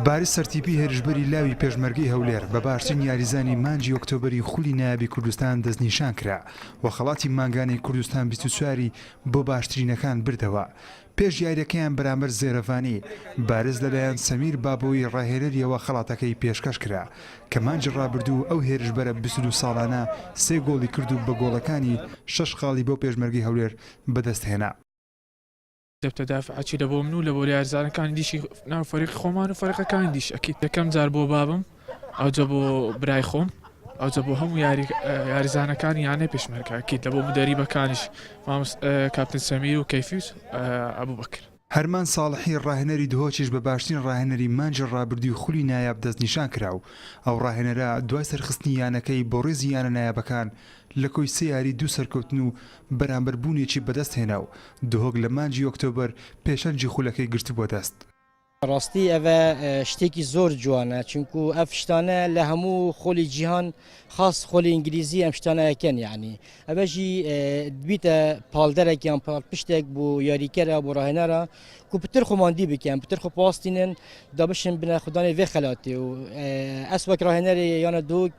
باری سەرتیپی هێرشبەری لاوی پێشمەرگەی هەولێر بە باشترین یاریزانی مانجی ئۆکتۆبەری خولی نایابی کوردستان دەستنیشان کرا و خەڵاتی مانگانەی کوردستان 24ی بۆ باشترینەکان بردەوە پێش یاریەکەیان بەرامبەر زێرەڤانی بارز لەلایەن سەمیر بابەوەی ڕاهێنەریەوە خەڵاتەکەی پێشکەش کرا کە مانجی ڕابردوو ئەو هێرشبەرە 22 ساڵانە سێ گۆڵی کرد و بە گۆڵەکانی شەش خاڵی بۆ پێشمەرگی هەولێر بەدەستهێنا دەبتە دافعەکی لە بۆ من و لە بۆ یارزانەکانی دیشی ناو فەرقی خۆمان و فەرقەکانی دیش ئەکیت یەکەم جار بۆ بابم ئەوجە بۆ برای خۆم ئەوجە بۆ هەموو یاریزانەکانی یانە پێشمەرکاکیت لە بۆ مدەریبەکانیش مامس کاپتن سەمیر و کەفیوس ئەبوو بکر هەرمان ساڵحی ڕاهێنەری دهۆکیش بە باشترین ڕاهێنەری مانجی ڕابردووی خولی نایاب دەستنیشان کرا و ئەو ڕاهێنەرە دوای سەرخستنی یانەکەی بۆ ڕیزی یانە نایابەکان لە کۆی سێ یاری دوو سەرکەوتن و بەرامبەر بوونێکی بەدەست هێنا و دهۆک لە مانگی ئۆکتۆبەر پێشەنگی خولەکەی گرتبووە دەست. بەڕاستی ئەڤە شتێکی زۆر جوانە چونکو ئەڤ شتانە لە هەموو خولی جیهان خاس خولی ئینگلیزی ئەم شتانە ئەکەن یعنی ئەڤەژی بیتە پاڵدەرەک یان پاڵ پشتێک بۆ یاریکەرە بۆ ڕاهێنەرە کو پتر خۆماندی بکەن پتر خۆ پاستینن دا بشن بنە خوددانی ڤێ خەلاتی و ئەس وەک ڕاهێنەری یانە دوک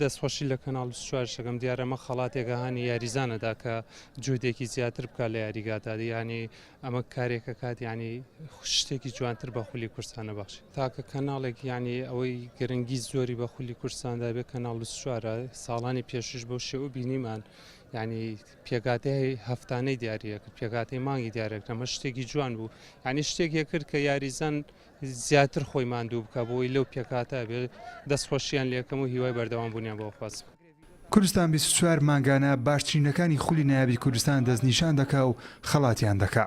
دەست خۆشی لە کەناڵ چوارشەکەم دیارە مە خەڵاتێکە هاانی یاریزانەدا کە جودێکی زیاتر بکە لە یاریگادا ینی ئەمە کارێکە کات ینی شتێکی جوانتر بە خولی کورسانە بەخش تاکە کەناڵێک ینی ئەوەی گرنگی زۆری بە خولی کورساندا بێ کەناڵ چوارە ساڵانی پێشش بۆ شێ و بینیمان ینی پێگاتەی هەفتانەی دیارە کرد پێگاتی مانگی دیارە کەمە شتێکی جوان بوو ینی شتێک یەکرد کە یاریزان زیاتر خۆی ماندوو بکا بۆی لەو پێکهاتە ئەبێ دەست خۆشیان لێکەم و هیوای بەردەوام بونیان بۆ ئەخوازم. کوردستان بیست و چوار مانگانە باشترینەکانی خولی نایابی کوردستان دەستنیشان دەکا و خەڵاتیان دەکا.